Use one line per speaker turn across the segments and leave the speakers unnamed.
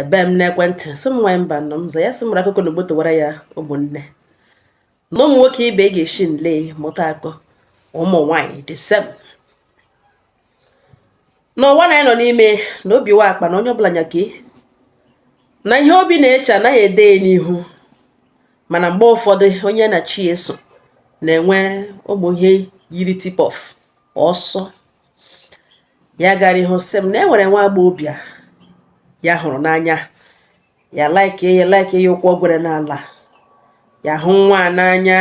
ebe m n'ekwentị sị m nwanyị mba nọ m za ya sị mara akụkọ na ugbo towara ya ụmụnne na ụmụ nwoke ibe ga-esi nle mụta akọ ụmụ nwanyị the same n'ụwa na anyị nọ n'ime na obi wụ akpa na onye ọbụla nya nke ya na ihe obi na-eche anaghị ede ya n'ihu mana mgbe ụfọdụ onye na chi ya so na-enwe ụmụ ihe yiri tip-off ọsọ ya gara ihu sị m na e nwere nwa agbọghọbịa ya hụrụ n'anya ya like ya like ya ụkwụ gwere n'ala ya hụ nwa a n'anya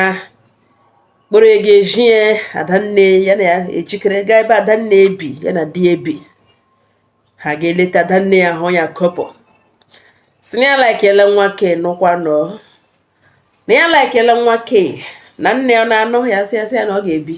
kpọrọ ya ga-ezi adanne ya na ya ejikere gaa ebe adanne ebi ya na di ebi ha ga-eleta adanne ya hụ ya kọpọ sị na ya laikele nwa ke nụkwa nọ na ya laikele nwa ke na nne ya na-anụ ya sị ya sị ya na ọ ga-ebi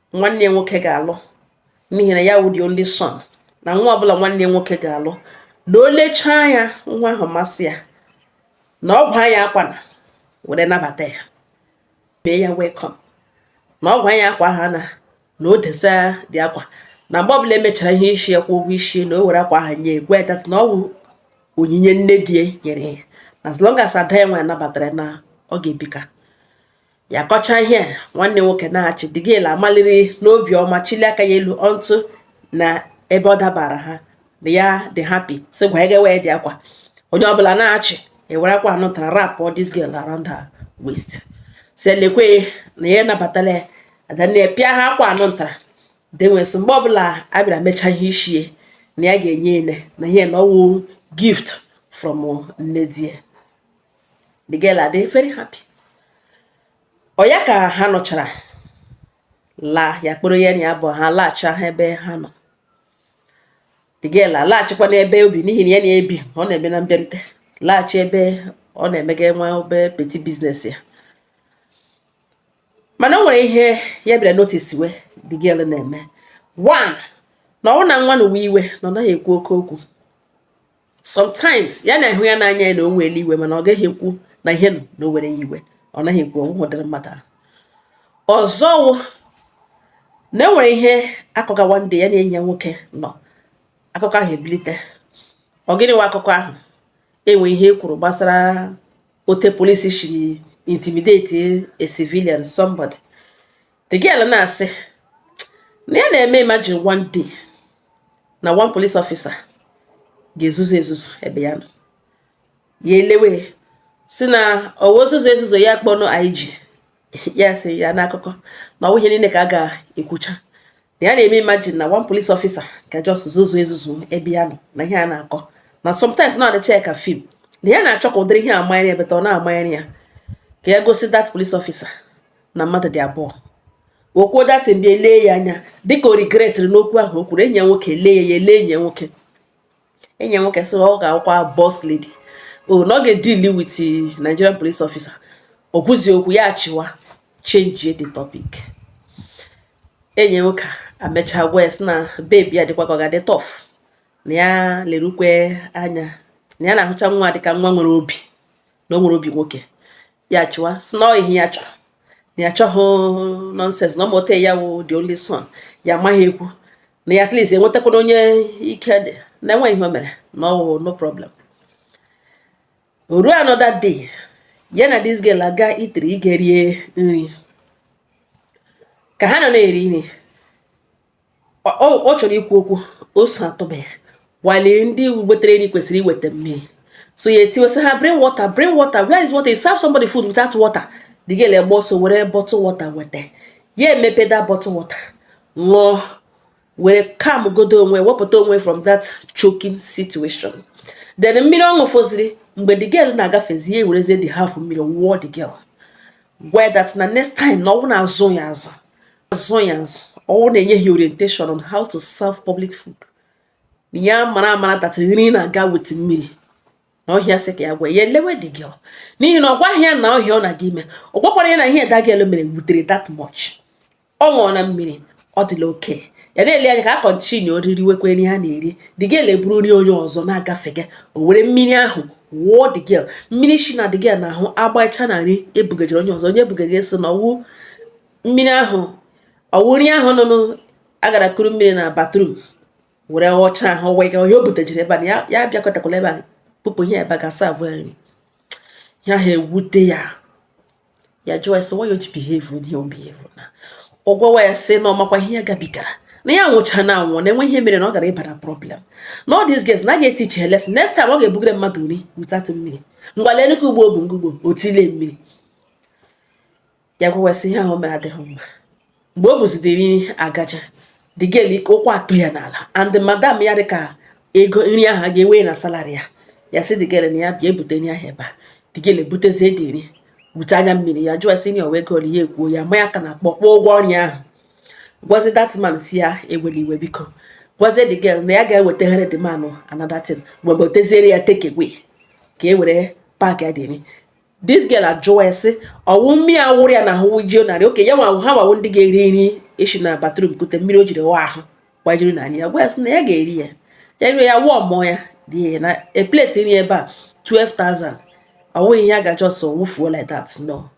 nwanne ya nwoke ga-alụ n'ihi na ya wụ the only son na nwa ọbụla nwanne ya nwoke ga-alụ na o lechaa ya nwa ahụ masị ya na ọ ga-awa ya akwa na were nabata ya mee ya welcome na ọ ga-awa ya akwa ahụ na o desa the akwa na mgbe ọbụla e mechara ihe isi ya kwụọ ụgwọ isi na o were akwa ahụ nye ya gwa ya na ọ wụ onyinye nne di nyere ya as long as ada ya nwa nabatara na ọ ga-ebika ya kọcha ihe nwanne nwoke na-achị the girl amaliri n'obi ọma chịlie aka ya elu ọntụ na ebe ọ dabara ha na ya dị happy si gwa ege wee the akwa onye ọbụla na-achị e were akwa anụ tara wrap this girl around her waist sị lekwe na ya nabatala ya adanne pịa ha akwa anụ ntara denweso mgbe ọbụla a bịara mechaa ihe ishi ya na ya ga-enye ene na ihe na ọ wụ gift from nne di ya the girl adị very happy ọ ya ka ha nọchara laa ya kpọrọ ya na ya bụ ha laghachi ha ebe ha nọ the girl alaghachikwa n'ebe o bi n'ihi na ya na-ebi ọ na-eme na mbịarute laghachi ebe ọ na-emega nwa obere petty business ya mana o nwere ihe ya bịara notice we the girl na-eme one na ọ wụ na nwa na-ewe iwe na ọ naghị ekwu oke okwu sometimes ya na-ahụ ya n'anya ya na o were iwe mana ọ gaghị ekwu na ihe nọ na o were ya iwe ọ naghị ekwu ọ wụ ụdịrị mmadụ ahụ ọzọ na e nwere ihe akụkọ one day ya na enyi ya nwoke nọ akụkọ ahụ ebilite ọ gịnị wụ akụkọ ahụ enwe ihe e kwuru gbasara otu police shiri intimidate a civilian somebody the girl na-asị na ya na-eme imagine one day na one police officer ga-ezuzu ezuzu ebe ya nọ ya elewe sị na ọ na-ezuzu ezuzu ya kpọnụ IG ya sị ya n'akụkọ na ọ wụ ihe niile ka a ga-ekwucha ya na-eme imagine na one police officer ka just zuzu ezuzu ebe ya nọ na ihe a na-akọ na sometimes na adịcha ka film na ya na-achọ ka ụdịrị ihe amanyere ya beta ọ na-amanyere ya ka ya gosi that police officer na mmadụ dị abụọ o kwuo that thing bịa lee ya anya dịka o regretịrị n'okwu ahụ o kwuru enyi ya nwoke lee ya ya lee enyi ya nwoke enyi ya nwoke sị ọ ga-awụkwa boss lady o na ọ ga-edili with Nigerian police officer o kwuzi okwu ya achịwa changie the topic enyi ya nwoke amecha gwa ya sị na baby a dịkwa ka ọ ga-adị tough na ya lerukwe anya na ya na-ahụcha nwa dịka nwa nwere obi na o nwere obi nwoke ya chịwa sị na ihe ya chọrọ na ya chọghị nonsense na ọ mụta ya wụ the only son ya amaghị ekwu na ya at least enwetakwana onye ike dị na enweghị ihe o mere na ọ wụ no problem ruo another day ya na this girl aga eatery ịga rie nri ka ha nọ na-eri nri Ọ- ọ ọ chọrọ ikwu okwu ose atụba ya while ndị wetara nri kwesịrị iweta mmiri so ya etiwesị ha bring water bring water where is water you serve somebody food without water the girl agba ọsọ were bottle water weta ya emepe that bottle water ṅụọ were calm godo onwe wepụta onwe from that choking situation then mmiri ọ ṅụfọziri mgbe the girl na-agafezi ya ewerezie the half mmiri wụọ the girl gwa ya that na next time na ọ wụ na-azụ ya azụ azụ ya azụ ọ wụ na enyeghị ya orientation on how to serve public food ya mara amara that nri na-aga with mmiri na ọ ihe ya sị ka ya gwa ya elewe the girl n'ihi na ọ gwaghị ya na ọ ihe ọ na-aga ime ọ gwakwara ya na ihe the girl mere wutere that much ọ ṅụọna mmiri ọ dịla okay ya na-ele anya ka ha kọntinuo ririwekwa nri ha na-eri the girl eburu nri onye ọzọ na-agafega o were mmiri ahụ wụọ the girl mmiri shi na the girl n'ahụ agbacha na nri ebugajere onye ọzọ onye ebugara eso na ọ wụ mmiri ahụ ọ wụ nri ahụ nụnụ agara kuru mmiri na bathroom were ọcha ahụ wega onye o butajere ebe a ya bịakọtakwala ebe a kpụpụ ihe ebe a ga-asa abụọ nri ya ha ewute ya ya jụọ ya sị why o ji behave with your behavior na ọ gwawa ya sị na ọ makwa ihe ya gabigara na ya nwụchana anwụ na enweghị ihe mere na ọ gara ịbara problem na all these girls na a ga-etichi ha lesson next time ọ ga-ebugara mmadụ nri without mmiri ngwa lee nnukwu ugbo bụ ngugbo otile mmiri ya gwawa sị ihe ahụ mere adịghị mma mgbe o buzi the nri agaje the girl ike ụkwụ atụ ya n'ala and madam ya dị ka ego nri ahụ a ga-ewe na salary ya ya sị the girl na ya bịa ebute nri ahụ ebe a the girl ebutezie the nri with anya mmiri ya jụọ sị na ọ wụ ego ya ekwuo ya ma ya ka na kpọkpọ ụgwọ nri ahụ gwazi that man sị ya ewela iwe biko gwazie the girl na ya ga-ewetagharị the man another thing mgbe o weteziere ya take away ka e were packịa the nri this girl ajụwa ya sị ọ wụ mmiri a wụrụ ya na ahụ jio narị oke ya nwa ha nwa wụ ndị ga-eri nri esi na bathroom kute mmiri o jiri wa ahụ gbajiri na ya gwa ya sị na ya ga-eri ya ya rie ya wụọ mmụọ ya rie ya na a plate nri ebe a 12,000 ọ wụ ihe a ga just wụfuo like that no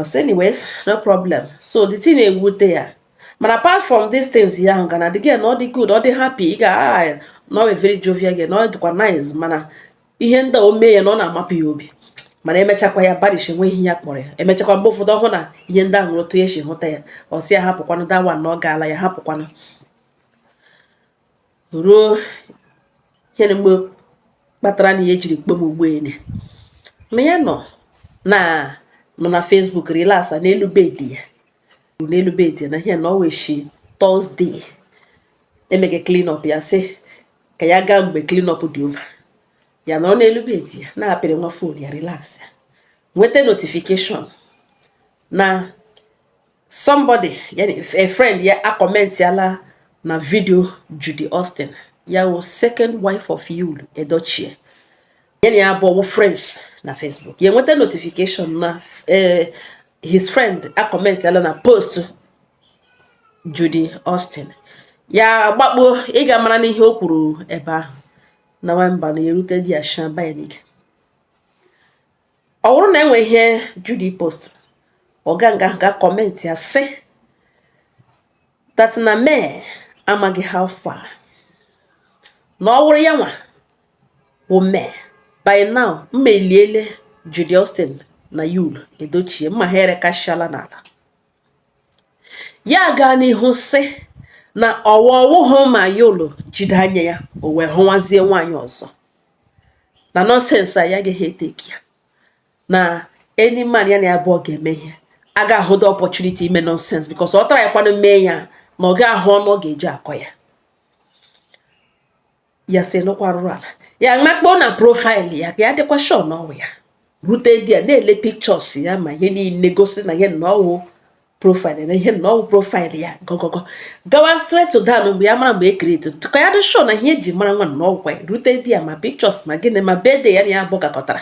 so anyways no problem so the thing na-ewute ya mana apart from these things ya ahụ ga na the girl na ọ dị good ọ dị happy girl ah, na ọ very jovial girl na ọ dịkwa nice mana ihe ndị o mee ya na ọ na-amapụ ya obi mana emechakwa ya barish enweghị ihe ya kpọrọ ya emechakwa mgbe ụfọdụ ọhụụ na ihe ndị ahụ otu esi hụta ya ọ sị ya hapụkwanụ that one na ọ gaala ya hapụkwanụ ruo ihe na mgbe kpatara na ya ejiri kpọọ m ugboele na ya nọ na nọ na Facebook relaxa n'elu bed ya n'elu bed na ihe na ọ weshi Thursday emege clean up ya sị ka ya gaa mgbe cleanup dị over ya nọrọ n'elu bed ya na-apịrị nwa phone ya relax ya nweta notification na somebody a friend ya akọmentiala na video Judy Austin ya wụ second wife of Yul Edochie ya na ya abụọ wụ friends na Facebook ya nweta notification na eh, his friend akọmentala na post Judy Austin ya gbakpo ịga mara n'ihe o kwuru ebe ahụ na nwamba na erute di ya shan bayanik ọ bụrụ na e nwee ihe Judy post ọ ga-aga ga comment ya sị that na May amaghị how far na ọ wụrụ ya nwa wụ May, By now, mma eliele Judy Austin na Yul Edochie, mma ha erekasịala n'ala. Ya gaa n'ihu sị na ọwa ọ wụhụ ma Yul jide anya ya o wee hụwazie nwaanyị ọzọ na nonsense a ya agaghị etake ya na any man ya na ya abụọ ga-eme ihe a ga-ahụ the opportunity ime nonsense because ọ tara ya kwanụ mee ya na ọ ga-ahụ ọnụ ọ ga-eji akọ ya ya sị nụkwa arụrụ ala ya makpoo na profile ya ka ya dịkwa sure na ọ wụ ya rute di ya na-ele pictures ya ma ihe niile gosi na ihe na ọ wụ profile na ihe na ọ wụ profile ya gọgọgọ gawa straight down mgbe ya mara mgbe e create ka ya dị sure na ihe eji mara nwa na ọ wụkwa rute di ya ma pictures ma gịnị ma birthday ya na ya abụọ gakọtara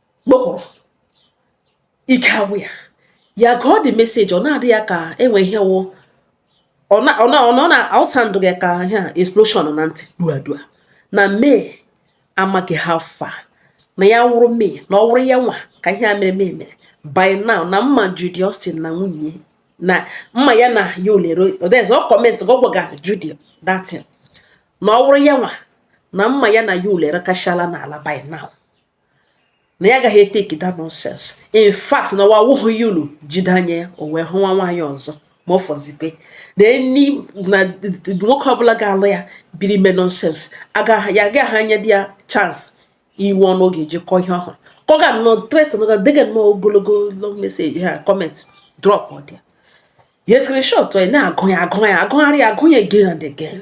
kpụpụrụ ike agwụ ya ya gụọ the message ọ na-adị ya ka enwe ihe wụ ọ na ọ na ọ na asound gị ka ihe a explosion na ntị dua dua na May amaghị how far na ya wụrụ May na ọ wụrụ ya nwa ka ihe a mere May mere by now na mma Judy Austin na nwunye na mma ya na Yul Edochie ọ commentiga ọ gwaga Judy that thing na ọ wụrụ ya nwa na mma ya na Yul erekachala n'ala by now na ya agaghị take that nonsense in fact na wa awụghị ya unu jide anya ya o wee hụwa nwaanyị ọzọ ma ọ fọzikwe na enyi na nwoke ọbụla ga-alụ ya biri ime nonsense ya agaghị ha enye di ya chance iwe ọnụ oge eji kọọ ihe ọhụrụ ka ọ ga nọ threat nọga dega nnọọ ogologo long message ha comment drop ọ di ya ya screenshot ya na-agụ ya agụ ya agụgharị ya agụ ya again and again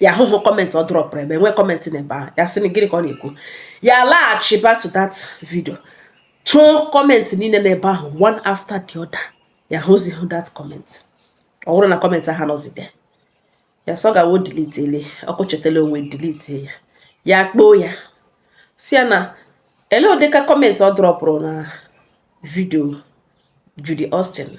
ya ahụhụ comment ọ dropụrụ ebe nwee comment na ebe ahụ ya sị gịnị ka ọ na-ekwu ya laghachi back to that video chọọ comment niile na ebe ahụ one after the other ya hụzighị that comment ọ bụrụ na comment ahụ anọzi there ya sị ọ gawo delete ele ọkụ chetala onwe delete ya ya kpọọ ya sị ya na ele ụdịka comment ọ dropụrụ na video Judy Austin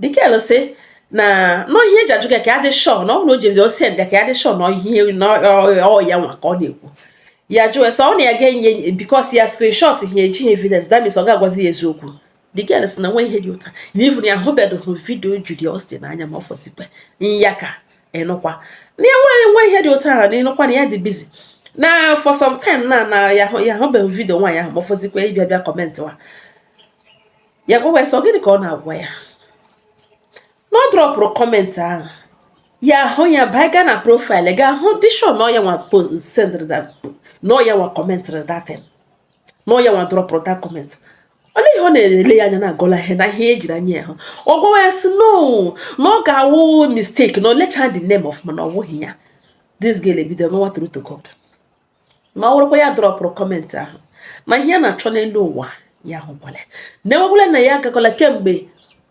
the girl sị na no ihe eji ajụ gị ka ya dị sure na ọ na o jiri ọ send ka ya dị sure na ihe na ọ ya nwa ka ọ na-ekwu ya jụọ sọ ọ na ya ga-enye because ya screenshot ihe eji evidence that means ọ ga-agwazi ya eziokwu the girl sị na enweghị data na even ya hụbedụhụ video Judy Austin anya ma ọ fọzikwa ya ka ịnụkwa na ya nwere enweghị data ahụ na ịnụkwa na ya dị busy na for some time na na ya hụbeghị video nwaanyị ahụ ma ọ fọzikwa ịbịa bịa comment wa ya gwawa ya sị ọ gịnị ka ọ na-agwa ya na ọ dropụrụ comment ahụ ya ahụ ya baa gaa na profile ga ahụ dị sure na ọ ya nwa sendịrị na ọ ya nwa commentịrị that thing na ọ ya nwa dropụrụ that comment olee ihe ọ na-ele ya anya na-agọla ihe na ihe ejiri anya ya hụ ọ gwawa ya sị no na ọ ga-awụ mistake na o lechaa the name ọfụma na ọ wụghị ya this girl ebido mewa true to God ma ọ wụrụkwa ya dropụrụ comment ahụ na ihe ya na-achọ n'elu ụwa ya hụkwala na enwekwala na ya agakwala kemgbe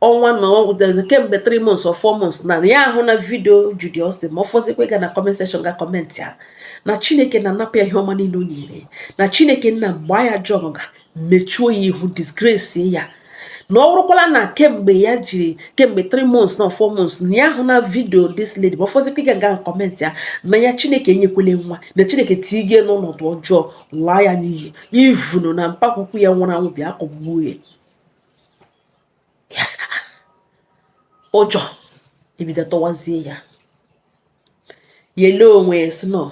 ọnwa na kemgbe 3 months or 4 months na ya ahụ na video Judy Austin ma ọ fọzikwa ịga na comment section ga comment ya na Chineke nna napụ ya ihe ọma niile o nyere na Chineke nna gbaa ya jọọ nga mechuo ya ihu disgrace ya na ọ wụrụkwala na kemgbe ya jiri kemgbe 3 months na 4 months na ya ahụ na video this lady ma ọ fọzikwa ịga ga comment ya na ya chineke enyekwele nwa na chineke tiige n'ọnọdụ ọjọọ laa ya n'iyi even na mpa ukwu ya nwụrụ anwụ bịa kụgbuo ya yes ụjọ ebido tụwazie ya ya lee onwe ya sị no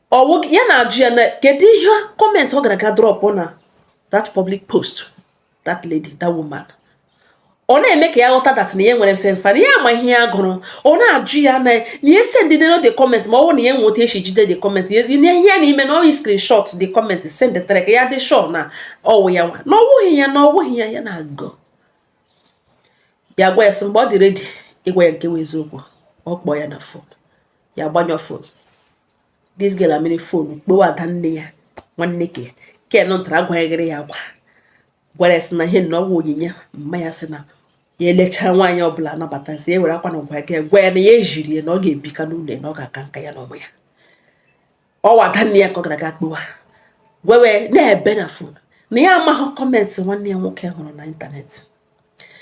ọwụ ya na-ajụ ya na kedu ihe comment ọ gara ga drop na that public post that lady that woman ọ na-eme ka ya ghọta that na ya nwere mfemfe na ya ama ihe ya gụrụ ọ na-ajụ ya na na e send nu the comment ma ọ bụrụ na ya nweta esi jide the comment ihe ya na-eme na ọ ị screenshot the comment send the ka ya dị sure na ọwụ ya nwa na ọwụghị ya na ọwụghị ya ya na-agụ ya gwa ya sị mgbe ọ dị ready ịgwa ya nke bụ eziokwu ọ kpọọ ya na phone ya gbanyụọ phone this girl amịrị phone kpọwa ada nne ya nwanne ke ken ntara agwanyeghịrị ya agwa gwara ya sị na ihe na ọwụ onyinye mma ya sị na ya elechaa nwaanyị ọbụla anabatazie were akwa na gwa gị gwa ya na ya ejiri ya na ọ ga-ebika n'ụlọ ya na ọ ga-aka nka ya na ụmụ ya ọwụ ada nne ya ka ọ gara aga kpọwa were na-ebe na phone na ya amaghị comment nwanne ya nwoke hụrụ na internet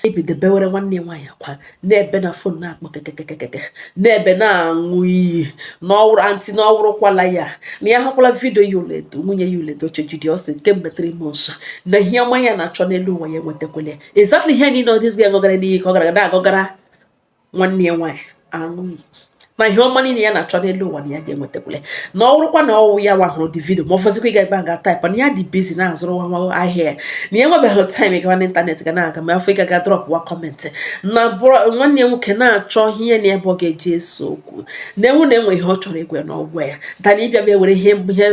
ebido bewere nwanne ya nwaanyị akwa na-ebe na phone na-akpọ kekekekeke na-ebe na-aṅụ iyi n'ọwụrụ aunty n'ọwụrụkwala ya na ya hụkwala video Yul Edo nwunye Yul Edochie Judy Austin kemgbe 3 months na ihe ọma ya na-achọ n'elu ụwa ya enwetakwele exactly ihe niile this girl gọgara n'iyi ka ọ gara na-agọgara nwanne ya nwaanyị aṅụ iyi na ihe ọma niile ya na-achọ n'elu ụwa na ya ga-enwetakwule na ọ bụrụkwa na ọwụ ya nwa hụrụ the video ma ọ fọzikwa ịga ebe a ga-ataịpa na ya dị busy na-azụrụ nwa nwa ahịa ya na ya enwebeghị time ịgawa n'internet ga na-aga ma ọ fọ ịga ga dropụwa comment na nwanne ya nwoke na-achọ ihe na ebe ọ ga-eji ese okwu na enwu na enwe ihe ọ chọrọ ịgwa na ọ gwa ya than ịbịa bịa were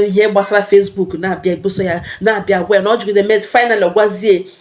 ihe gbasara Facebook na-abịa ebuso ya na-abịa gwa ya na ọ jụgide mee final gwazie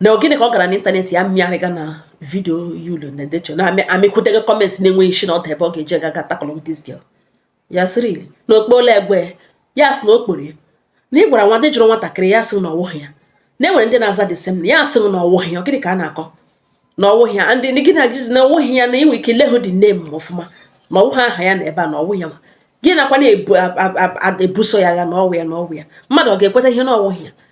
na gịnị ka ọ gara n'internet ya mmịarịga na video Yul na decho na amịkwụdego comment na-enweghị isi na ọdụ ebe ọ ga-eji gaga tackle with this girl ya sịrị na ọ kpọọla egbe ya sị na ọ kpọrọ ya na ị gwara nwa dị jụrụ nwatakịrị ya sị na ọwụghị ya na enwere ndị na-aza the same name ya sị na ọwụghị ya gịnị ka a na-akọ na ọwụghị ya this girl na-agọzi na ọwụghị ya na ị nwere ike lehụ the name ọfụma na ọwụghị aha ya na ebe a na ọwụghị ya ma guy nọkwa na-ebuso ya agha na ọwụ ya na ọwụ ya mmadụ ọ ga-ekweta ihe na ọwụghị ya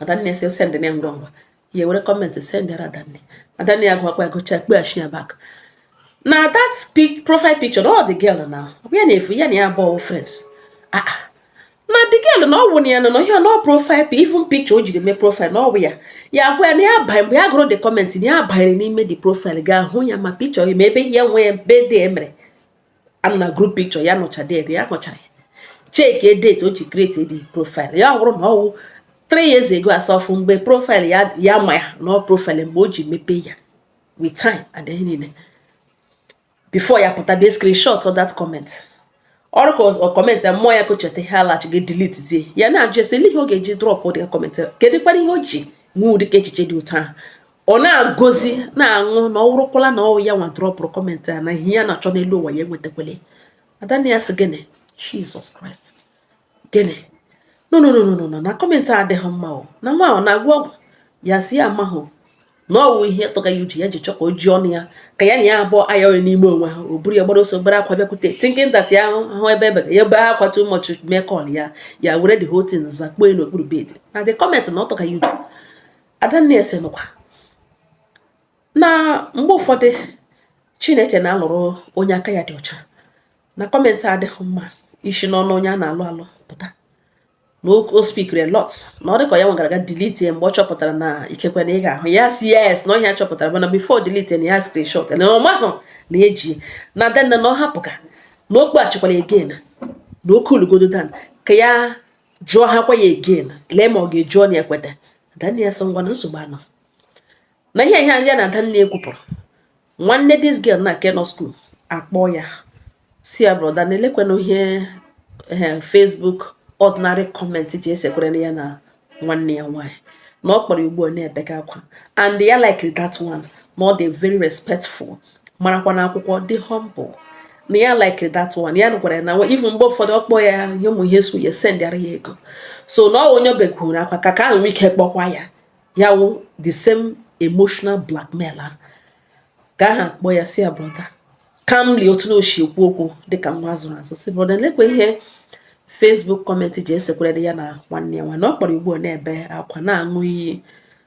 adanne sị send ya ngwa ngwa ya were comment sendịara adanne adanne ya gụọkwa ya gụchaa kpọghachi ya back na that pic profile picture of the girl na ọ ya na-efu ya na ya abụọ friends ah, ah. na the girl na ọwụ na ya nọ na ihe na profile pic even picture o jiri mee profile na ọwụ ya ya gwa ya na ya banye mgbe ya gụrụ the comment na ya banyere n'ime the profile ga-ahụ ya ma picture ya ma ebe ihe nwe ya birthday e mere ha nọ na group picture ya nyochaa date ya nyochara ya check date o ji create the profile ya ọ bụrụ na ọwụ 3 years ago as of mgbe profile ya ya ma ya na ọ profile mgbe o ji mepee ya with time and ihe niile before ya pụta bịa screenshotuo that comment ọrụ ka ọ comment ya mmụọ ya ka o cheta ihe alachi ga delete zie ya na-ajụ ese ihe ọ ga-eji drop ụdị comment kedụkwanụ ihe o ji nwee ụdị ka echiche dị otu ahụ ọ na-agọzi na-aṅụ na ọ wụrụkwala na ọwụ ya nwa dropụrụ comment a na ihe ya na-achọ n'elu ụwa ya enwetakwele adanne ya sị gịnị Jesus Christ gịnị no no no no no na comment a adịghị mma o na nwa ọ na-agwọ ọgwụ ya sị ya amahụ na ọwụ ihe tụga ya ụjọ ya ji chọ ka o ji ọnụ ya ka ya na ya abụọ aya onye n'ime onwe ha o buru ya gbara ọsọ gbara akwa bịakwute thinking that ya ahụ ebe ebe ya ebe akwa too much mee call ya ya were the whole thing zakpuo n'okpuru bed na the comment na ọ tụga ya ụjọ adanne asị nụkwa na mgbe ụfọdụ chineke na-alụrụ onye aka ya dị ọcha na comment adịghị mma isi n'ọnụ onye a na-alụ alụ pụta na o spikiri a lot na ọ dịka ya nwa gara ga delete ya mgbe ọ chọpụtara na ikekwe na ị ga-ahụ ya sị yes na ọ ihe a chọpụtara mana before delete na ya screenshot na ọ mahụ na e ji na adanne na ọ hapụ ka na ọ kpọghachikwala again na o kuulugodu down ka ya jụọ ha kwa ya again lee ma ọ ga-eji ọnụ ya kweta adanne ya sị ọ ngwa na nsogbu anọ na ihe ihe ya na adanne ya kwupụrụ nwanne this girl na nke nọ school akpọ ya sị ya brọda na lekwanụ ihe eh, Facebook ordinary comment ji esekwere ya na nwanne ya nwaanyị na ọ kpọrọ ugbu a na-ebega akwa and ya likiri that one na ọ dị very respectful marakwa na akwụkwọ dị humble na ya likiri that one ya gwara ya na even mgbe ụfọdụ ọ kpọọ ya ihe ụmụ ihe so ya sendịara ya ego so na ọ onye o begoro akwa ka nke ahụ ike kpọkwa ya ya wụ the same emotional blackmail ahụ nke ahụ kpọ ya sị ya brọda calmly otu na o shi ekwu okwu dịka nwa a zụrụ azụ sị brọda lekwa ihe Facebook comment ji esekwere ya na nwanne ya nwa na ọ kpọrọ ugbu a na-ebe akwa na-aṅụ iyi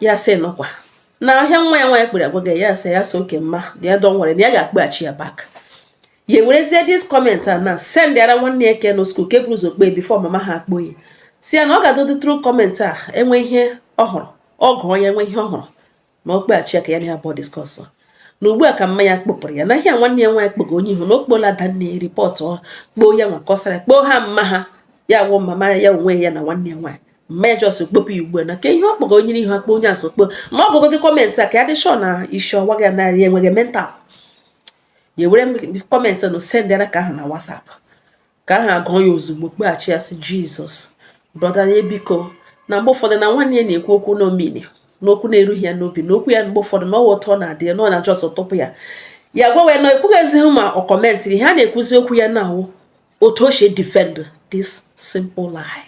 ya sị nụkwa na ihe a nwa ya nwa ya kpọrọ agwa gị ya sị ya sị okay my dear don't worry na ya ga-akpọghachi ya back ya werezie this comment a nwa sendịara nwanne ya ke nọ school ke buru ụzọ kpọọ before mama ha akpọ ya sị ya na ọ gagodị through comment a e nwee ihe ọ hụrụ ọ gụọ ya e nwee ihe ọ hụrụ na ọ kpọghachi ya ka ya na ya abụọ discuss na ugbu a ka mama ya kpọpụrụ ya na ihe nwanne ya nwaanyị kpọgo onye ihu na ọ kpọọla adanne ripọtụ kpọọ ya nwa kọsara kpọọ mama ha ya wụ mama ya onwe ya na nwanne ya nwaanyị me just kpọpụ ugbu a na ka ihe ọ kpọga onye n'ihu akpọ onye azụ okpo na ọ gụgodị comment a ka ya dị sure na isi ọwa gị na ya enweghị mental ya were comment nụ sendịara nke ahụ na WhatsApp nke ahụ gụọ ya ozugbo kpọghachi ya sị Jesus brọda ya biko na mgbe ụfọdụ na nwanne ya na-ekwu okwu na o minighi n'okwu na-erughị ya n'obi n'okwu ya mgbe ụfọdụ na ọ wụ otu ọ na-adị ya na ọ na just tụpụ ya ya gwawa ya na ekwughịzi ma ọ kọmentịrị ihe a na-ekwuzi okwu ya nwa wụ otu o si defend this simple lie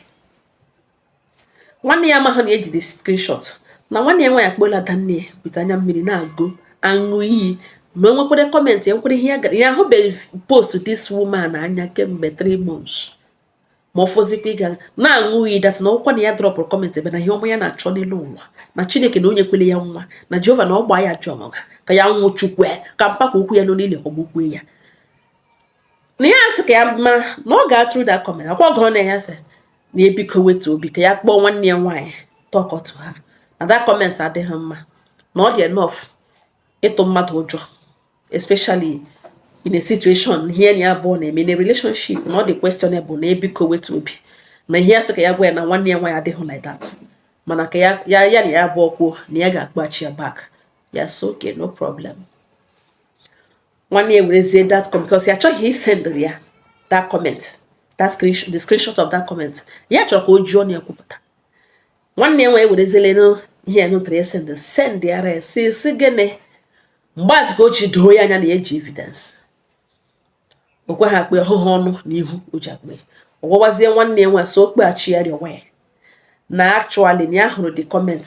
nwanne ya amaghị na e ji the screenshot na nwanne ya nwaanyị akpọla adanne ya with anya mmiri na-agọ aṅụ iyi na o nwekwere comment e nwekwere ihe ya gara ya ahụbeghị post this woman anya kemgbe 3 months ma ọ fọzikwa ịga na-aṅụ iyi that na ọkwa na ya drọpụrụ comment ebe na ihe ọma ya na-achọ n'elu ụwa na chineke na onye kele ya nwa na jehova na ọ gbaa ya jụọ ka ya nwụchukwaa ka mpaka okwu ya nọ n'ile ọgbụgbue ya na ya sị ka ya mara na ọ ga-atụrụ da kọment akwa ọgọ na ya sị na ya biko wetu obi ka ya kpọọ nwanne ya nwaanyị talk to her na that comment adịghị mma na ọ dị enough ịtụ mmadụ ụjọ especially in a situation ihe na ya abụọ na-eme na relationship na ọ dị questionable na ya biko wetu obi na ihe ya sị ka ya gwa ya na nwanne ya nwaanyị adịghị like that mana ka ya ya na ya abụọ kwuo na ya ga-akpọghachi ya back ya sị okay no problem nwanne ya werezie that comment because ya achọghị isend ya that comment that screenshot the screenshot of that comment ya chọrọ ka ọ jụọ na ya kwupụta nwanne ya nwaanyị werezienụ ihe nụtara ya send sendara ya sị sị gịnị mgbe ahụzi ka o ji doo ya anya na ya ji evidence o kweghị akpe ọhụhụ ọnụ na ihu o ji akpe ọ gwawazie nwanne ya nwa so ọ kpọghachi ya rịọwa ya na actually na ya hụrụ the comment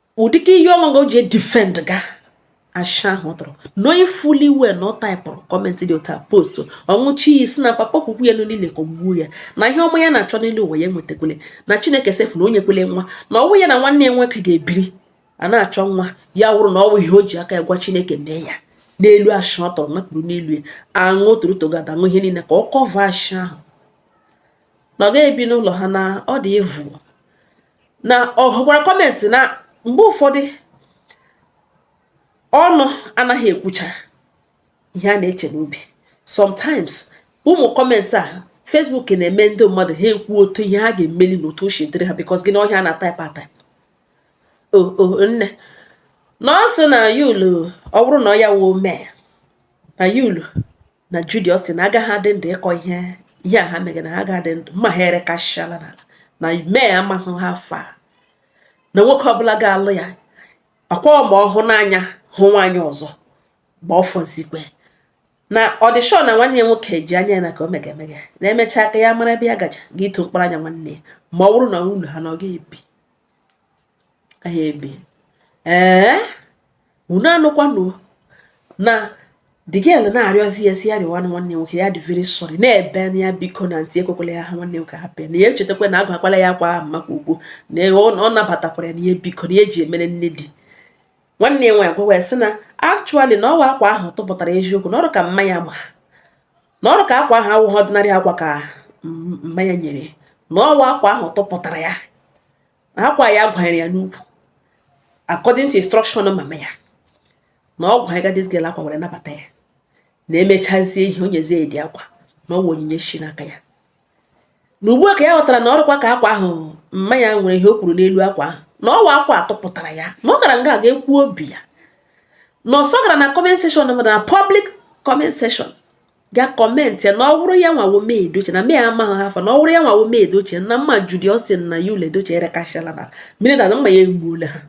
ụdịka iyi ọṅụṅụ o ji edefend ga asha ahụ ọ tụrụ knowing fully well na ọ taịpụrụ comment dị under post ọ ṅụchie iyi sị na papa kwukwu ya niile ka o gbuo ya na ihe ọma ya na-achọ n'elu ụwa ya enwetakwele na Chineke sef enyekwele nwa na ọ wụ ya na nwanne ya nwoke ga-ebiri a na-achọ nwa ya wụrụ na ọ wụ ihe o ji aka ya gwa Chineke mee ya n'elu asha ọ tụrụ napụrụ n'elu ya aṅụ torotogada aṅụ ihe niile ka ọ cover asha ahụ na ọ ga-ebi n'ụlọ ha na ọ dị evu na ọ hụkwara comment na mgbe ụfọdụ ọnụ anaghị ekwucha ihe a na-eche n'obi sometimes ụmụ comment a Facebook na-eme ndị mmadụ ha ekwuo otu ihe ha ga-emeli na otu o si dịrị ha because gị na ọhịa na-type ataịpụ o oh, o oh, nne na ọ sị na Yul ọ bụrụ na ọ ya wụ May na Yul na Judy Austin agaghị adị ndụ ịkọ ihe ihe a ha megara ha agaghị adị ndụ ma ha erekasịala n'ala na May amaghị ha afọ a na nwoke ọbụla ga-alụ ya akwa ma ọ hụ n'anya hụ nwaanyị ọzọ gba ọfọzikwe na ọdịshọ na nwanne ya nwoke ji anya ya na ka ọ mega emega na e mechaa ka ya mara ebe ya gaja gị ito mkpara anya nwanne ya ma ọ bụrụ na ụlọ ha na ọ ga-ebi anyị ebi ee unu anụkwanụ na the girl na-arịọzi ya sị ya rịọwa nwanne nwoke ya dị very sorry na-ebe na ya biko na aunty ekwekwala ya ha nwanne nwoke hapụ ya na ya echetakwa na agwakwala ya akwa ahụ maka ugwu na ọ nabatakwara ya na ihe biko na ya eji emere nne di nwanne ya nwaanyị gwawa ya sị na actually na ọ wụ akwa ahụ tụpụtara eziokwu na ọrụ ka mmanya ma na ọrụ ka akwa ahụ awụghị ordinary akwa ka mama ya nyere na ọ wụ akwa ahụ tụpụtara ya na akwa ya gwanyere ya n'ukwu according to instruction mama ya na ọ gwanyega this girl akwa were nabata ya na emechazie ihe o nyezie ya the akwa na ọ wụ onyinye shi n'aka ya na ugbu a ka ya ghọtara na ọ rụkwa ka akwa ahụ mma ya nwere ihe o kwuru n'elu akwa ahụ na ọ wụ akwa a tụpụtara ya na ọ gara nga a ga-ekwu obi ya na ọsọ gara na comment section na public comment section ga comment ya na ọ wụrụ ya nwa wụ May Edochie na May amaghị how far na ọ wụrụ ya nwa wụ May Edochie na mma Judy Austin na Yul Edochie erekachala na mmiri na mma ya egbuola ha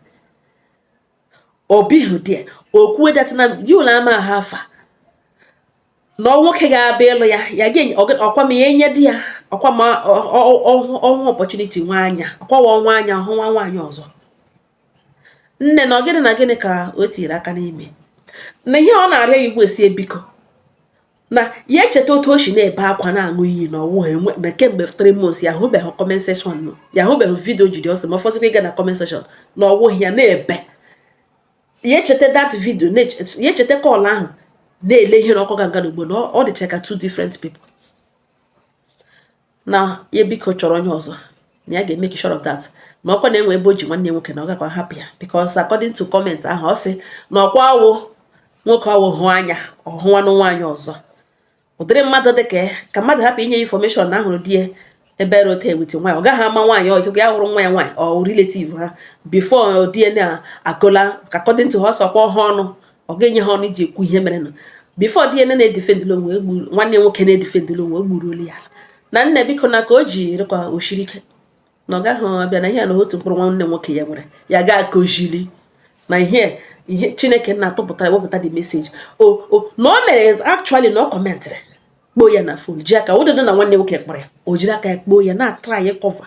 obihu dia okwue that na Yul ama how far na ọ nwoke ga-abịa ịlụ ya ya ga ọkwa m ya enye di ya ọkwa m ọnwa opportunity nwa anya ọkwawa ọnwa anya ọ hụ nwa nwaanyị ọzọ nne na ọ gịnị na gịnị ka o tiiri aka n'ime na ihe ọ na-arịọ ya wụ sị ya biko na ya echeta otu o si na-ebe akwa na-aṅụ iyi na ọ wụ enwe na kemgbe three months ya hụbeghị comment section na ya hụbeghị video Judy Austin ma ọ fọzikwa ịga na comment section na ọ wụ ihe ya na-ebe ya echeta that video ya echeta call ahụ na-ele ihe na ọkụ ganga n'ugbu a na ọ dịcha ka two different people na ya biko chọrọ onye ọzọ na ya ga-emeke sure of that na ọkwa na-enwe ebe o ji nwanne nwoke na ọ gakwa hapụ ya because according to comment ahụ ọ sị na ọkwa a wụ nwoke awụ hụ anya ọ hụwanụ nwaanyị ọzọ ụdịrị mmadụ dị ka ka mmadụ hapụ inye information na a hụrụ di ya ebe hotel with nwaanyị ọ gaghị ama nwaanyị ọhụ ya hụrụ nwa ya nwaanyị or relative ha before di ya na-agọla ka according to ha ọsọkwa ọhụụ ọnụ ọ ga-enye ha ọnụ iji ekwu ihe mere na bifo di ene na-edifendịla onwe e nwanne nwoke na-edifendịla onwe egburuolu ya ala na nne biko na ka o ji rịkwa osiri ike na ọ gaghị abịa na ihe na otu mkpụrụ nwanne nwoke ya nwere ya ga akụzili na ihe ihe chineke na-atụpụta ewepụta dị meseji o na o mere actually na ọ kọmentịrị kpoo ya na fon ji aka ụdịdị na nwanne nwoke kpọrọ ya o jiri aka ya kpoo ya na-atụrụ anyị kọva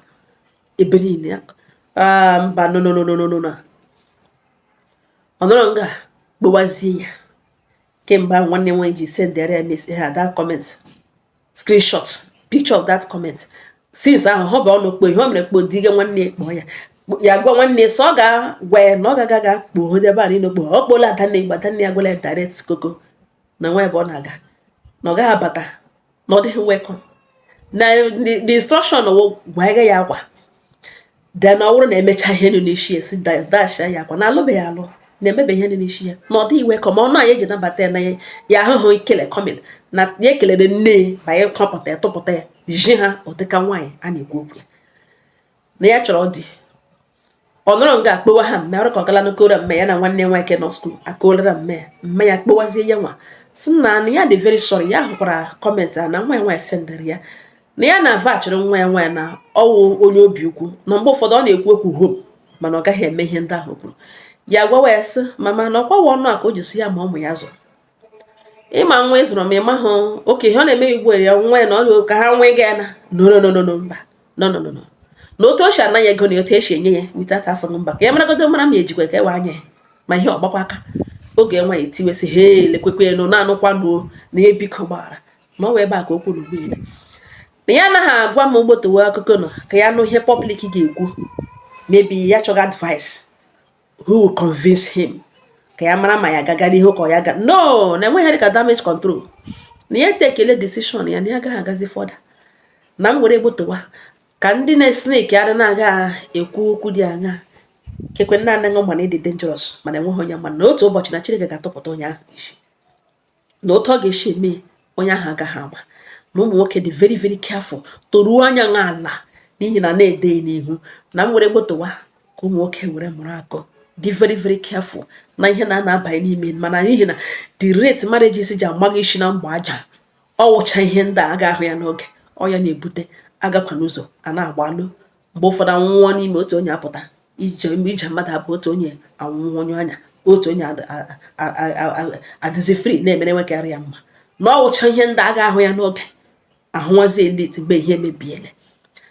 ebe niile ya ah, mba nononononono ọ nọrọ nga kpọwazie ya kemgbe ahụ nwanne nwaanyị ji sendere ya message ahụ that comment screenshot picture of that comment since ahụ ọ bụ ọnụ kpọọ ihe o mere kpọdiga nwanne ya kpọọ ya ya gwa nwanne so ọ ga-agwa ya na ọ ga-aga ga kpọọ onye ebe a niile ọkpọ ọ kpọọla Adanne Igbo Adanne ya gwala ya direct koko na nwa ebe ọ na-aga na ọ gaghị abata na ọ dịghị welcome na the instruction gwa ya ya agwa then ọ bụrụ na e mechaa ihe nọ n'isi ya si dash ya akwa na alụbeghị alụ na-emebe ihe nọ n'isi ya na ọ dịghị welcome o na ya eji nabata ya na ya ya ahụhụ ikele Queen May na ya ekelere nne ya ma ya kọpụta ya tụpụta ya ji ha ụdịka nwaanyị a na-ekwu okwu ya na ya chọrọ dị ọ nọrọ nga akpọwa ha mummy ọ rụ ka ọ gala na-akọrọ mummy ya na nwanne nwoke nọ school akọọlara mummy mummy ya kpọwazie ya nwa sị na ya dị very sorry ya hụkwara comment a na nwa ya nwaanyị sendịrị ya na ya na-avachịrị nwa ya nwaanyị na ọ wụ onye obi ọkụ na mgbe ụfọdụ ọ na-ekwu okwu hom mana ọ gaghị eme ihe ndị ahụ kwuru ya gwawa ya sị mama na ọkwawa ọnụ a ka o ji si ya ma ụmụ ya zụrụ ịma nwa ịzụrụ ma ịma hụ oke ihe ọ na-eme igbu ya nwa ya na ọ ka ha nwee ga ya na nonononono mba nononono na otu o si anaghị ego na otu esi enye ya witata asọm mba ka ya maragodo mara ma ejikwa ka ewe anya ya ma ihe ọgbakwa aka oge nwa ya etiwesị ha elekwekwe nụ na-anụkwanụ o na ya biko gbaghara ma ọ wee ebe a ka okwu na ụgbọelu na ya anaghị agwa m gbotowe akụkọ nọ ka ya nụ ihe public ga-ekwu maybe ya chọga advice who will convince him ka ya mara ma ya gaga n'ihu ka ọ ya ga no na enweghị ka damage control na ya takele decision ya na ya agaghị agazi further na m were gbotowa ka ndị na-esneki adị na-aga ekwu okwu dị anya kekwe nna anaghị ma na ị dị dangerous mana enweghị onye ma na otu ụbọchị na Chineke ga-atụpụta onye ahụ isi na otu ọ ga-esi eme onye ahụ agaghị ama na ụmụ nwoke dị very very careful toruo anya nwa ala n'ihi na na-ede n'ihu na m were gbotowa ka ụmụ nwoke were mụrụ akọ dị very very careful na ihe a na-abanye n'ime mana n'ihi na the rate marriages ji amaghị isi na mgba aja ọ wụcha ihe ndị a ga-ahụ ya n'oge ọ ya na-ebute agakwa n'ụzọ a na-agbalụ mgbe ụfọdụ anwụọ n'ime otu onye apụta ije mgbe ije mmadụ abụọ otu onye anwụọ onye anya otu onye adịzi free na-emere nwekarị ya mma na ọ wụcha ihe ndị agaghị ahụ ya n'oge ahụwazie late mgbe ihe mebiele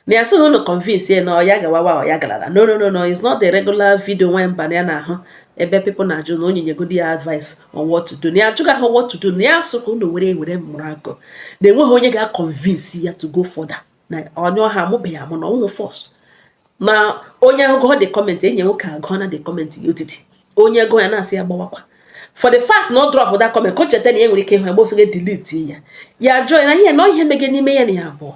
na ya sịghị unu convince ya na ọ ya gawawa ọ ya galara no no no no it's not the regular video nwa mba na ya na-ahụ ebe people na-ajụ na onye nyegodi ya advice on what to do na ya ajụghị ọha what to do na ya sọ ka unu were were mụrụ akọ na enweghị onye ga-convince ya to go further na onye ahụ amụbeghị amụ na ọnwụ first na onye agụọ the comment enye nwoke agụọ na the comment ya otiti onye gụọ ya na-asị ya gbawakwa for the fact na ọ dropụ that comment ka o cheta na ya nwere ike ịhụ ya gba ọsọ ga delete ya ya jụọ ya na ihe na ihe mege n'ime ya na ya abụọ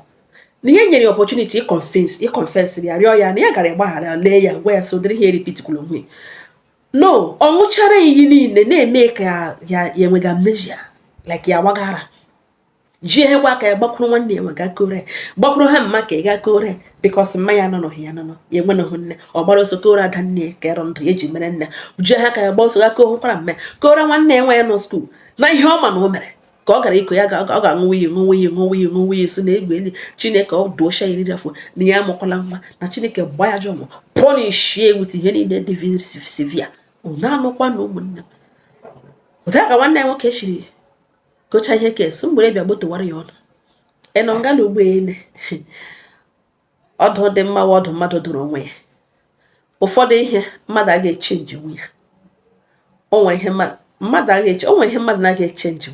na ihe nyere opportunity iconfess ya rịọ ya na ya gara ịgbaghara lee ya gwa ya sị ụdịrị ihe erepeatikwala onwe no ọ ṅụchara iyi niile na-eme ka ya enwega amnesia like ya wagara ji ehekwa aka ya gbakwuru nwanne ya nwanyị gaa kọọrọ gbakwuru ha mma ka ya gaa kọọrọ because mma ya nọ n'ohi ya nọ ya enwenụghị nne ọ gbara ọsọ kọọrọ ada nne ya ka dịrị ndụ ya eji mere nne ji ha ka ya gba ọsọ gaa kọọ hụkwara mme kọọrọ nwanne ya nwanyị nọ school na ihe ọ ma na o mere ka ọ gara ịkọ ya ọ ga-aṅụwa iyi ṅụwa iyi ṅụwa iyi ṅụwa iyi sị na egbe eli chineke ọ dọsha eriri afọ na ya amụkwala nwa na chineke gba ya jọ mụ punishie with ihe niile dị severe na-anụkwa na ụmụnne m otu a ka nwanne ya nwoke shiri gocha ihe ke so m were bịa gbotowara ya ọnụ ịnọ ngala ụgbọelu ọdụ dị mma ọdụ mmadụ dụrụ onwe ya ụfọdụ ihe mmadụ ga-echange ya o nwere ihe mmadụ mmadụ agaghị echange o nwere ihe mmadụ na-aga echange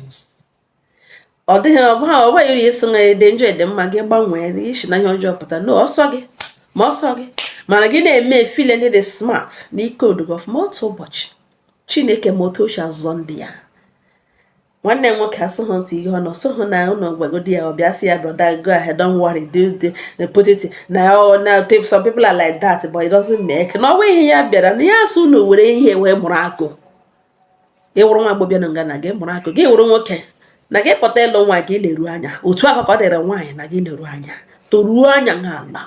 ọ dịghị ọbụha ọba yiri eso na ị dị njọ ị dị mma gị gbanwee i si na ihe ọjọọ pụta na ọ sọ gị ma ọ sọ gị ma na gị na-eme efeel na ị dị smart na i codugo ọfụma otu ụbọchị chineke ma otu o shi azọ ndị ya nwanne nwoke asụghị ntị ihe ọ nọ sụghị na ụlọ gwagodi ya ọ bịa sị ya brother go ahead don't worry do the eh, put it na oh, na some people are like that but it doesn't make na ọwa ihe ya bịara na ya asụ na were ihe wee mụrụ akọ gị wụrụ nwa agbọbịa na nga na gị mụrụ akọ gị wụrụ nwoke na gị pụta ịlụ nwaanyị leru anya otu ahụ ka ọ dịrị nwaanyị na gị leru anya toruo anya n'ala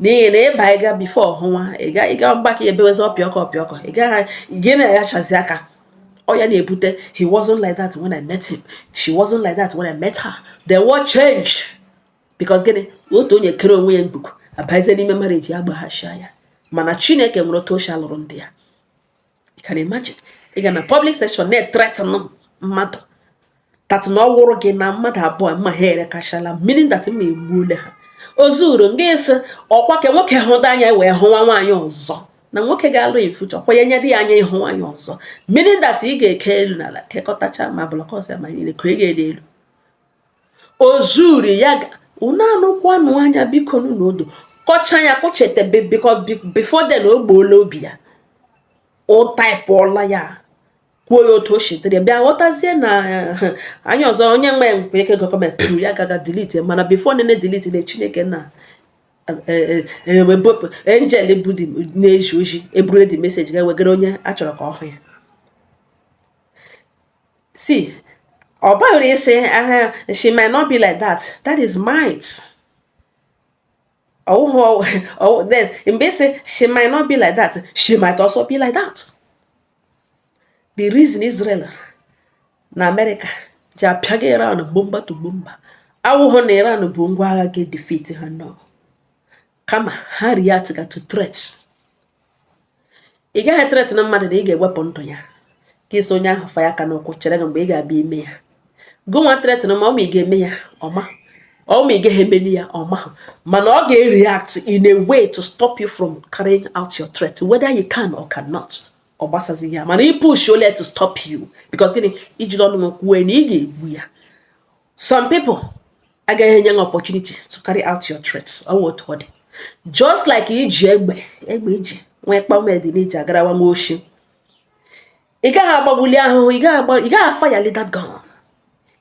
n'ihi na ịba ịga before ọhụnwa ịga ịga mgbakọ ebewezi ọpịọkọ ọpịọkọ ị gaghị gị na-ayachazi aka ọ ya na-ebute he wasn't like that when I met him she wasn't like that when I met her then what changed because gịnị otu onye kere onwe ya ngwugwu abazie n'ime marriage ya gbaghachia ya mana Chineke nwere otu o shi alụrụ ndị ya you can imagine ị ga na public section na-ethreaten mmadụ that na ọ wụrụ gị na mmadụ abụọ mma ha erekachala meaning that mma egbuole ha o zuru nga ị sị ọkwa ka nwoke hụda anya wee hụwa nwaanyị ọzọ na nwoke ga-alụ in future ọkwa ya nyere ya anya ịhụ nwaanyị ọzọ meaning that ị ga-eke elu na ala kekọtacha ma blọkọs ya ma niile ka ị ga-ede elu o zuru ya unu anụkwanụ anya biko n'ụlọ kọcha ya kụchete before then o gbuola obi ya o taịpụọla ya kwuo ya otu o si dịrị bịa ghọtazie na eh, anyị ọzọ onye nwe nkwe ike comment pụrụ ya gaga delete mana before ọ na-edelete na chineke na ewebepụ eh, eh, angel bụ na-eji oji eburu the message ga-ewegara onye a chọrọ ka ọ hụ ya si ọ baghịrị isi aha she might not be like that that is might ọ wụhụ mgbe ị sị she might not be like that she might also be like that the reason Israel na America ji apịaga Iran bumper to bumper awụghị na Iran bu ngwa agha ga-edefeat ha no kama ha react ga to threat ị gaghị ethreaten mmadụ na ị ga-ewepụ ndụ ya ka ị sị onye ahụ fanye aka n'ụkwụ chere mgbe ị ga-abịa ime ya gụnwa threaten ma ọ ma ị ga-eme ya o ma ọ ma ị gaghị emeli ya o ma mana ọ ga-react in a way to stop you from carrying out your threat whether you can or cannot ọ gbasazi ya mana ị pushole to stop you because gịnị i jiri ọnụ kwue na ị ga-egbu ya some people agaghị enye gị opportunity to carry out your threat ọ wụ otu ọ dị just like i ji egbe egbe i ji nwee kpamedị na i ji agarawa nwa oshi ị gaghị agbagbuli ahụhụ ị gaghị afireli that gun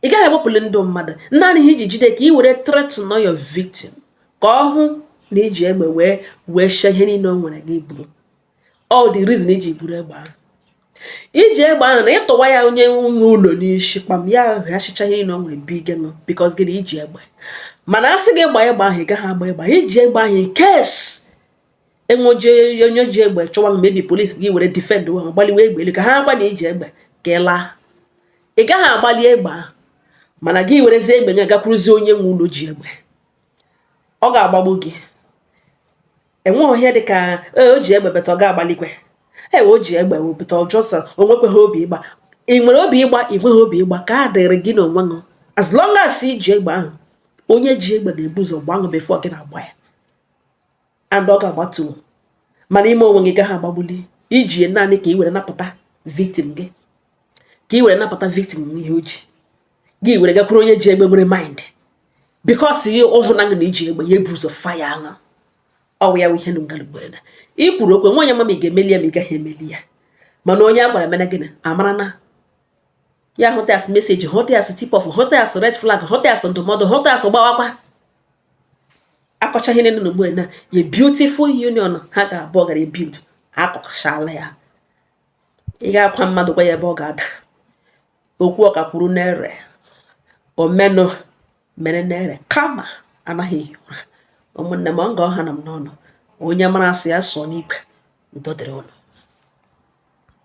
ị gaghị agbapụli ndụ mmadụ naanị ihe i ji jide ka ị were threaten your victim ka ọ hụ na i ji egbe wee weshie ihe niile o nwere gị buru all the reason i ji buru egbe ahụ i ji egbe ahụ na ị tụwa ya onye nwe ụlọ n'isi kpam ya ghachicha ihe niile o nwere bige no because gịnị i ji egbe mana a sị gị gbaa egbe ahụ ị gaghị agba egbe ahụ i ji egbe ahụ in case enweji onye ji egbe chọwa maybe police gị were defend ha gbaliwe egbe elu ka ha gwa na i ji egbe ka ị laa ị gaghị agbali egbe ahụ mana gị werezie egbe nye gakwuruzie onye nwe ụlọ ji egbe ọ ga-agbagbu gị enweghị ihe dị ka e, o ji egbe beta ọ ga-agbalikwe ewe o ji egbe wepụta ọjọsọ o nwekweghị obi ịgba ị nwere obi ịgba ị nweghị obi ịgba nke a dịrị gị na onwe gị as long as i ji egbe ahụ onye ji egbe ga-ebu ụzọ gbaa ahụ before gị na-agba ya and ọ ga-agbatuo mana ime onwe gị gaghị agbagbuli i ji ya naanị ka ị were napụta victim gị ka ị were napụta victim n'ihe o ji gị were gakwuru onye ji egbe nwere mind because ihe ọ hụrụ na na i ji egbe ya ebu ụzọ fire aṅụ ọ wụ ya ihe ngalugwere na ị kwuru okwu nwaanyị ma ma ị ga-emeli ya ma ị gaghị emeli ya mana onye a gwara mere gịnị amara na ya hụta ya as message hụta ya as tip off hụta ya as red flag hụta ya as ndụmọdụ hụta ya as gbawakwa akọchaa ihe na-eme ugbu a na a beautiful union ha abụọ gaara ebuild akọchala ya ị ga-akwa mmadụ gwa ya ebe ọ ga-ada okwu ọka kwuru na-ere omenụ mere na-ere kama anaghị ehi ụra ụmụnne m ọ ka ọ hanụ m n'ọnụ onye mara asụ ya sụọ n'ikwe udo dịrị unu